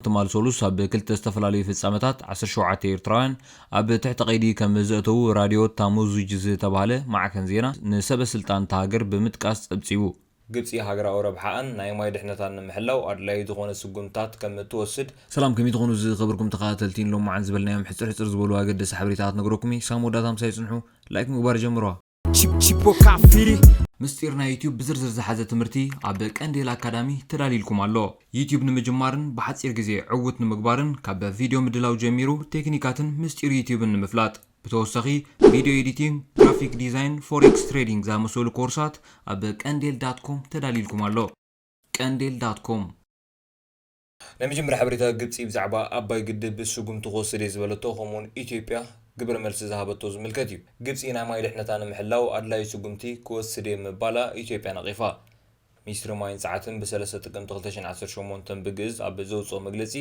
ትማል ሰሉስ ኣብ ክልተ ዝተፈላለዩ ፍጻመታት ዓሰርተ ሸውዓተ ኤርትራውያን ኣብ ትሕቲ ቀይዲ ከም ዘእተዉ ራድዮ ታሙዙጅ ዝተባህለ ማዕከን ዜና ንሰበ ስልጣን እታ ሃገር ብምጥቃስ ጸብጺቡ። ግብጺ ሃገራዊ ረብሓኣን ናይ ማይ ድሕነታን ንምሕላው ኣድላዪ ዝኾነ ስጉምትታት ከም እትወስድ፣ ሰላም ከመይ ትኾኑ ዝኸበርኩም ተኸታተልቲ ንሎሚ መዓልቲ ዝበልናዮም ሕጽር ሕጽር ዝበሉ ኣገደስቲ ሓበሬታታት ነገረኩም'የ ክሳብ መወዳእታ ምሳይ ጽንሑ ላይክ ምግባር ጀምርዋ። ምስጢር ናይ ዩትዩብ ብዝርዝር ዝሓዘ ትምህርቲ ኣብ ቀንዴል ኣካዳሚ ተዳልይልኩም ኣሎ። ዩትዩብ ንምጅማርን ብሓፂር ግዜ ዕውት ንምግባርን ካብ ቪድዮ ምድላው ጀሚሩ ቴክኒካትን ምስጢር ዩትዩብን ንምፍላጥ ብተወሳኺ ቪድዮ ኤዲቲንግ፣ ግራፊክ ዲዛይን፣ ፎሬክስ ትሬዲንግ ዝኣመሰሉ ኮርሳት ኣብ ቀንዴል ዳት ኮም ተዳልይልኩም ኣሎ። ቀንዴል ዳት ኮም። ናይ መጀመርያ ሓበሬታ ግብጺ ብዛዕባ ኣባይ ግድብ ስጉምቲ ክወስድ እየ ዝበለቶ ከምኡውን ኢትዮጵያ ግብረ መልሲ ዝሃበቶ ዝምልከት እዩ። ግብጺ ናይ ማይ ድሕነታ ንምሕላው ኣድላዩ ስጉምቲ ክወስድ እየ ምባላ ኢትዮጵያ ነቒፋ። ሚኒስትሪ ማይን ጸዓትን ብሰለስተ ጥቅምቲ ክልተ ሽሕን ዓሰርተ ሸሞንተ ብግእዝ ኣብ ዘውጽኦ መግለጺ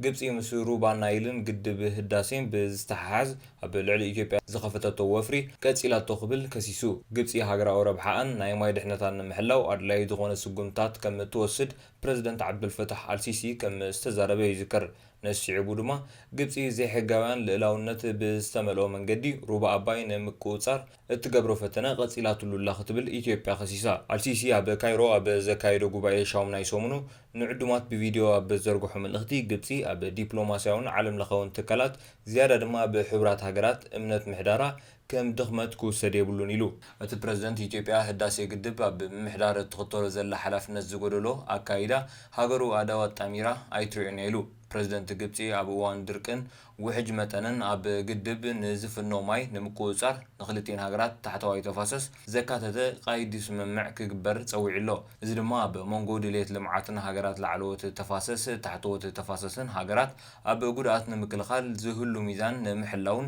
ግብጺ ምስ ሩባ ናይልን ግድብ ህዳሴን ብዝተሓሓዝ ኣብ ልዕሊ ኢትዮጵያ ዝኸፈተቶ ወፍሪ ቀጺላቶ ክብል ከሲሱ። ግብጺ ሃገራዊ ረብሓኣን ናይ ማይ ድሕነታን ንምሕላው ኣድላዩ ዝኾነ ስጉምትታት ከም እትወስድ ፕረዚደንት ዓብዱልፈታሕ ኣልሲሲ ከም ዝተዛረበ ይዝከር። ነዚ ስዒቡ ድማ ግብጺ ዘይሕጋውያን ልእላውነት ብዝተመልኦ መንገዲ ሩባ ኣባይ ንምቁጽጻር እትገብሮ ፈተነ ቀጺላትሉ ኣላ ክትብል ኢትዮጵያ ከሲሳ። ኣልሲሲ ኣብ ካይሮ ኣብ ዘካየዶ ጉባኤ ሻውም ናይ ሰሙኑ ንዕዱማት ብቪድዮ ኣብ ዘርግሖ መልእኽቲ ግብጺ ኣብ ዲፕሎማስያውን ዓለምለኸውን ትካላት ዝያዳ ድማ ኣብ ሕቡራት ሃገራት እምነት ምሕዳራ ከም ድኽመት ክውሰድ የብሉን ኢሉ። እቲ ፕረዚደንት፣ ኢትዮጵያ ህዳሴ ግድብ ኣብ ምምሕዳር እትኽተሎ ዘላ ሓላፍነት ዝጎደሎ ኣካይዳ፣ ሃገሩ ኣእዳው ኣጣሚራ ኣይትሪኦን እያ ኢሉ። ፕረዚደንት ግብፂ ኣብ እዋን ድርቅን ውሕጅ መጠንን ኣብ ግድብ ንዝፍኖ ማይ ንምቁፅፃር ንኽልቲኤን ሃገራት ታሕተዋይ ተፋሰስ ዘካተተ ቐይዲ ስምምዕ ክግበር ፀዊዑ ኣሎ። እዚ ድማ ኣብ ሞንጎ ድልየት ልምዓትን ሃገራት ላዕለዎት ተፋሰስ ታሕተዎት ተፋሰስን ሃገራት ኣብ ጉድኣት ንምክልኻል ዝህሉ ሚዛን ንምሕላውን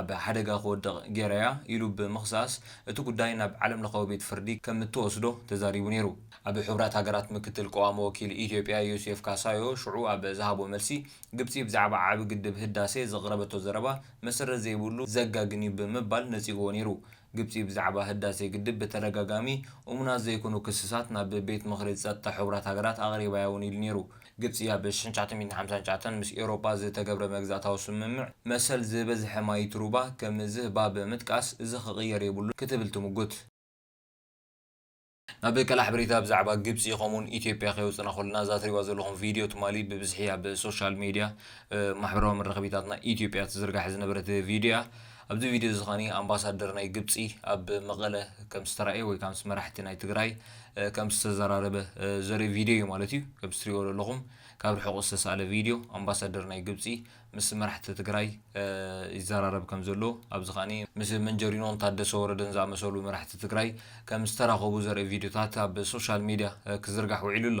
ኣብ ሓደጋ ክወድቕ ገይራ'ያ ኢሉ ብምኽሳስ እቲ ጉዳይ ናብ ዓለምለኻዊ ቤት ፍርዲ ከም እትወስዶ ተዛሪቡ ነይሩ። ኣብ ሕቡራት ሃገራት ምክትል ቀዋሚ ወኪል ኢትዮጵያ ዮሴፍ ካሳዮ ሽዑ ኣብ ዝሃቦ መልሲ፣ ግብጺ ብዛዕባ ዓቢ ግድብ ህዳሴ ዘቕረበቶ ዘረባ መሰረት ዘይብሉ፣ ዘጋግን'ዩ ብምባል ነጺግዎ ነይሩ። ግብጺ ብዛዕባ ህዳሴ ግድብ ብተደጋጋሚ እሙናት ዘይኮኑ ክስታት ናብ ቤት ምኽሪ ጸጥታ ሕቡራት ሃገራት ኣቕሪባ'ያ እውን ኢሉ ነይሩ። ግብጺ ኣብ ሽሕን ትሽዓተ ሚእትን ሓምሳን ትሽዓተን ምስ ኤውሮጳ ዝተገብረ መግዛእታዊ ስምምዕ መሰል ዝበዝሐ ማይ'ቲ ሩባ ከም ዝህባ ብምጥቃስ እዚ ክቕየር የብሉን ክትብል ትምጉት። ናብ ከላሕበሪታ ብዛዕባ ግብጺ ከምኡውን ኢትዮጵያ ከየውጽና ከሎና እዛ ትሪእዋ ዘለኹም ቪድዮ ትማሊ ብብዝሒ ኣብ ሶሻል ሜድያ ማሕበራዊ መራኸቢታትና ኢትዮጵያ ትዝርጋሕ ዝነበረት ቪድዮ እያ ኣብዚ ቪድዮ እዚ ከኒ ኣምባሳደር ናይ ግብጺ ኣብ መቐለ ከም ዝተራእየ ወይ ካምስ መራሕቲ ናይ ትግራይ ከም ዝተዘራረበ ዘርኢ ቪድዮ እዩ ማለት እዩ ከም ትሪእዎ ዘለኹም ካብ ርሑቕ ዝተሳእለ ቪድዮ ኣምባሳደር ናይ ግብጺ ምስ መራሕቲ ትግራይ ይዘራረብ ከም ዘሎ ኣብዚ ከኣ ምስ መንጀሪኖን ታደሰ ወረደን ዝኣመሰሉ መራሕቲ ትግራይ ከም ዝተራኸቡ ዘርኢ ቪድዮታት ኣብ ሶሻል ሚድያ ክዝርጋሕ ውዒሉ ኣሎ።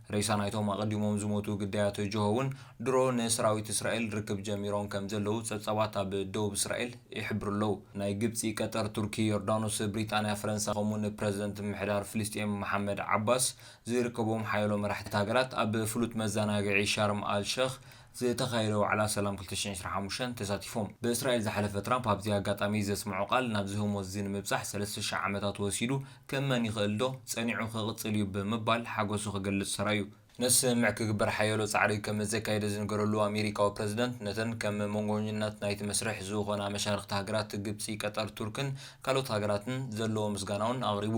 ሬሳ ናይቶም ኣቐዲሞም ዝሞቱ ግዳያት ጅሆ'ውን ድሮ ንሰራዊት እስራኤል ርክብ ጀሚሮም ከምዘለዉ ጸብጻባት ኣብ ደቡብ እስራኤል ይሕብሩ ኣለዉ። ናይ ግብጺ፣ ቀጠር፣ ቱርኪ፣ ዮርዳኖስ፣ ብሪጣንያ፣ ፈረንሳ ከምኡ'ውን ፕረዚደንት ምምሕዳር ፍልስጤም መሓመድ ዓባስ ዝርከቦም ሓያሎ መራሕቲ ሃገራት ኣብ ፍሉጥ መዘናግዒ ሻርም ኣል ሸኽ ዝተኻየደ ዋዕላ ሰላም ክልተ ሽሕን ዕስራን ሓሙሽተን ተሳቲፎም ብእስራኤል ዝሓለፈ ትራምፕ ኣብዚ ኣጋጣሚ ዘስምዖ ቃል ናብ ዝህሞት እዚ ንምብጻሕ ሰለስተ ሽሕ ዓመታት ወሲዱ ክእመን ይኽእልዶ? ጸኒዑ ክቕጽል እዩ ብምባል ሓጎሱ ክገልጽ ሰራዩ ነስምምዕ ክግበር ሓያሎ ጻዕሪ ከምዘካየደ ዝንገረሉ ኣሜሪካዊ ፕረዚደንት ነተን ከም መንጎኝነት ናይቲ መስርሕ ዝኾና መሻርኽቲ ሃገራት ግብጺ ቀጠር ቱርክን ካልኦት ሃገራትን ዘለዎ ምስጋናውን ኣቕሪቡ።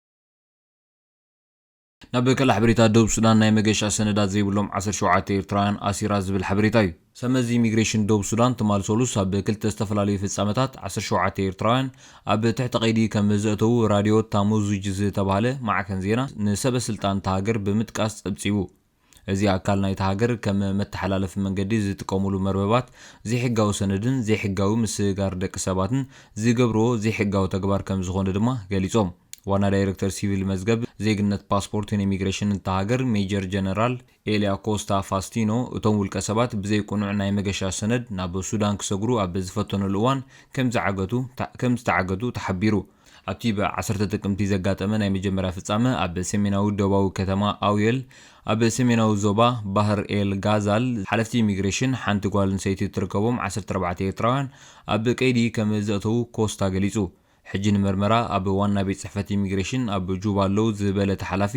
ናብ ቀላዕ ሓበሬታ ደቡብ ሱዳን ናይ መገሻ ሰነዳት ዘይብሎም ዓሰርተ ሸውዓተ ኤርትራውያን ኣሲራ ዝብል ሓበሬታ እዩ። ሰብመዚ ኢሚግሬሽን ደቡብ ሱዳን ትማል ሰሉስ ኣብ ክልተ ዝተፈላለዩ ፍጻመታት ዓሰርተ ሸውዓተ ኤርትራውያን ኣብ ትሕቲ ቀይዲ ከም ዘእተዉ ራድዮ ታሙዙጅ ዝተባህለ ማዕከን ዜና ንሰበ ስልጣን እታ ሃገር ብምጥቃስ ጸብጺቡ። እዚ ኣካል ናይታ ሃገር ከም መተሓላለፊ መንገዲ ዝጥቀሙሉ መርበባት ዘይሕጋዊ ሰነድን ዘይሕጋዊ ምስግጋር ደቂ ሰባትን ዝገብርዎ ዘይሕጋዊ ተግባር ከምዝኾነ ድማ ገሊፆም። ዋና ዳይሬክተር ሲቪል መዝገብ፣ ዜግነት፣ ፓስፖርትን ኢሚግሬሽንን እታ ሃገር ሜጀር ጀነራል ኤልያ ኮስታ ፋስቲኖ እቶም ውልቀ ሰባት ብዘይ ቅኑዕ ናይ መገሻ ሰነድ ናብ ሱዳን ክሰግሩ ኣብ ዝፈተኑሉ እዋን ከምዝዓገቱ ከምዝተዓገቱ ተሓቢሩ። ኣብቲ ብ ዓሰርተ ጥቅምቲ ዘጋጠመ ናይ መጀመርያ ፍጻመ፣ ኣብ ሰሜናዊ ዶባዊ ከተማ ኣውየል፣ ኣብ ሰሜናዊ ዞባ ባህር ኤል ጋዛል፣ ሓለፍቲ ኢሚግሬሽን ሓንቲ ጓል ኣንሰይቲ እትርከቦም ዓሰርተ ኣርባዕተ ኤርትራውያን ኣብ ቀይዲ ከም ዘእተዉ ኮስታ ገሊጹ። ሕጂ ንመርመራ ኣብ ዋና ቤት ጽሕፈት ኢሚግሬሽን ኣብ ጁባ ኣለዉ ዝበለ እቲ ሓላፊ፣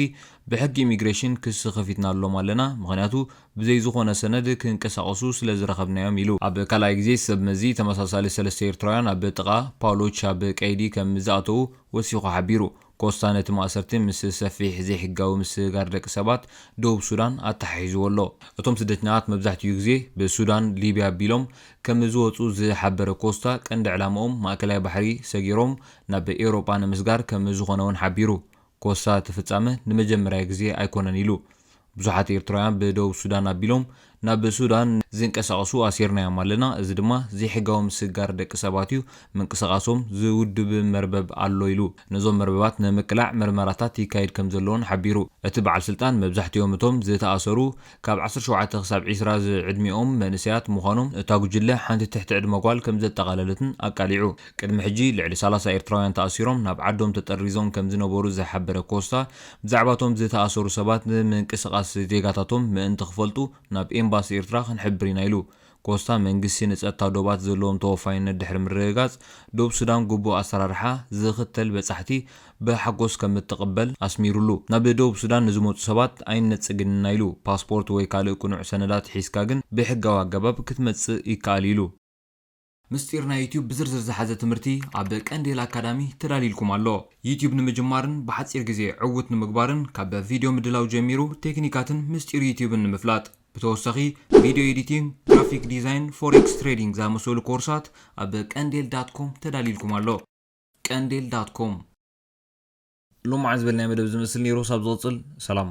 ብሕጊ ኢሚግሬሽን ክሲ ከፊትና ኣሎም ኣለና፣ ምኽንያቱ ብዘይ ዝኾነ ሰነድ ክንቀሳቐሱ ስለ ዝረኸብናዮም ኢሉ። ኣብ ካልኣይ ግዜ ሰብ መዚ ተመሳሳሊ ሰለስተ ኤርትራውያን ኣብ ጥቓ ፓሎች ኣብ ቀይዲ ከም ዝኣተዉ ወሲኹ ሓቢሩ። ኮስታ ነቲ ማእሰርቲ ምስ ሰፊሕ ዘይሕጋዊ ምስግጋር ደቂ ሰባት ደቡብ ሱዳን ኣተሓሒዝዎ ኣሎ። እቶም ስደተኛታት መብዛሕትኡ ግዜ ብሱዳን፣ ሊብያ ኣቢሎም ከም ዝወጹ ዝሓበረ ኮስታ፣ ቀንዲ ዕላማኦም ማእከላይ ባሕሪ ሰጊሮም ናብ ኤውሮጳ ንምስጋር ከም ዝኾነ'ውን ሓቢሩ። ኮሳ እቲ ፍጻመ ንመጀመርያ ግዜ ኣይኮነን ኢሉ። ብዙሓት ኤርትራውያን ብደቡብ ሱዳን ኣቢሎም ናብ ሱዳን ዝንቀሳቐሱ ኣሲርናዮም ኣለና፣ እዚ ድማ ዘይሕጋዊ ምስግጋር ደቂ ሰባት'ዩ፣ ምንቅስቓሶም ዝውድብ መርበብ ኣሎ ኢሉ። ነዞም መርበባት ንምቅላዕ ምርመራታት ይካየድ ከምዘሎ'ውን ሓቢሩ። እቲ በዓል ስልጣን መብዛሕቲኦም እቶም ዝተኣሰሩ ካብ ዓሰርተ ሸውዓተ ክሳብ ዒስራ ዝዕድሚኦም መንእሰያት ምዃኖም፣ እታ ጉጅለ ሓንቲ ትሕቲ ዕድመ ጓል ከምዘጠቓለለትን ኣቃሊዑ። ቅድሚ ሕጂ ልዕሊ ሰላሳ ኤርትራውያን ተኣሲሮም ናብ ዓዶም ተጠሪዞም ከምዝነበሩ ዝሓበረ ኮስታ፣ ብዛዕባ'ቶም ዝተኣሰሩ ሰባት ምንቅስቓስ ዜጋታቶም ምእንቲ ክፈልጡ ናብ ኤምባሲ ኤርትራ ክንሕብር ኢና ኢሉ። ኮስታ መንግስቲ ንጸጥታ ዶባት ዘለዎም ተወፋይነት ድሕሪ ምርግጋጽ፣ ዶብ ሱዳን ግቡእ ኣሰራርሓ ዝኽተል በጻሕቲ ብሓጎስ ከምእትቕበል ኣስሚሩሉ። ናብ ደቡብ ሱዳን ንዝመጹ ሰባት ኣይንነጽግን ኢና ኢሉ። ፓስፖርት ወይ ካልእ ቅኑዕ ሰነዳት ሒዝካ ግን ብሕጋዊ ኣገባብ ክትመጽእ ይከኣል'ዩ ኢሉ። ምስጢር ናይ ዩትዩብ ብዝርዝር ዝሓዘ ትምህርቲ ኣብ ቀንዴል ኣካዳሚ ተዳልዩልኩም ኣሎ። ዩትዩብ ንምጅማርን ብሓጺር ግዜ ዕዉት ንምግባርን ካብ ቪድዮ ምድላው ጀሚሩ ቴክኒካትን ምስጢር ዩትዩብን ንምፍላጥ። ብተወሳኺ ቪድዮ ኤዲቲንግ፣ ግራፊክ ዲዛይን፣ ፎሬክስ ትሬዲንግ ዝኣመሰሉ ኮርሳት ኣብ ቀንዴል ዳት ኮም ተዳልዩልኩም ኣሎ። ቀንዴል ዳት ኮም። ሎምዓንቲ ዝበልናዮ መደብ እዚ ዝመስል ነይሩ፣ ክሳብ ዝቕጽል ሰላም።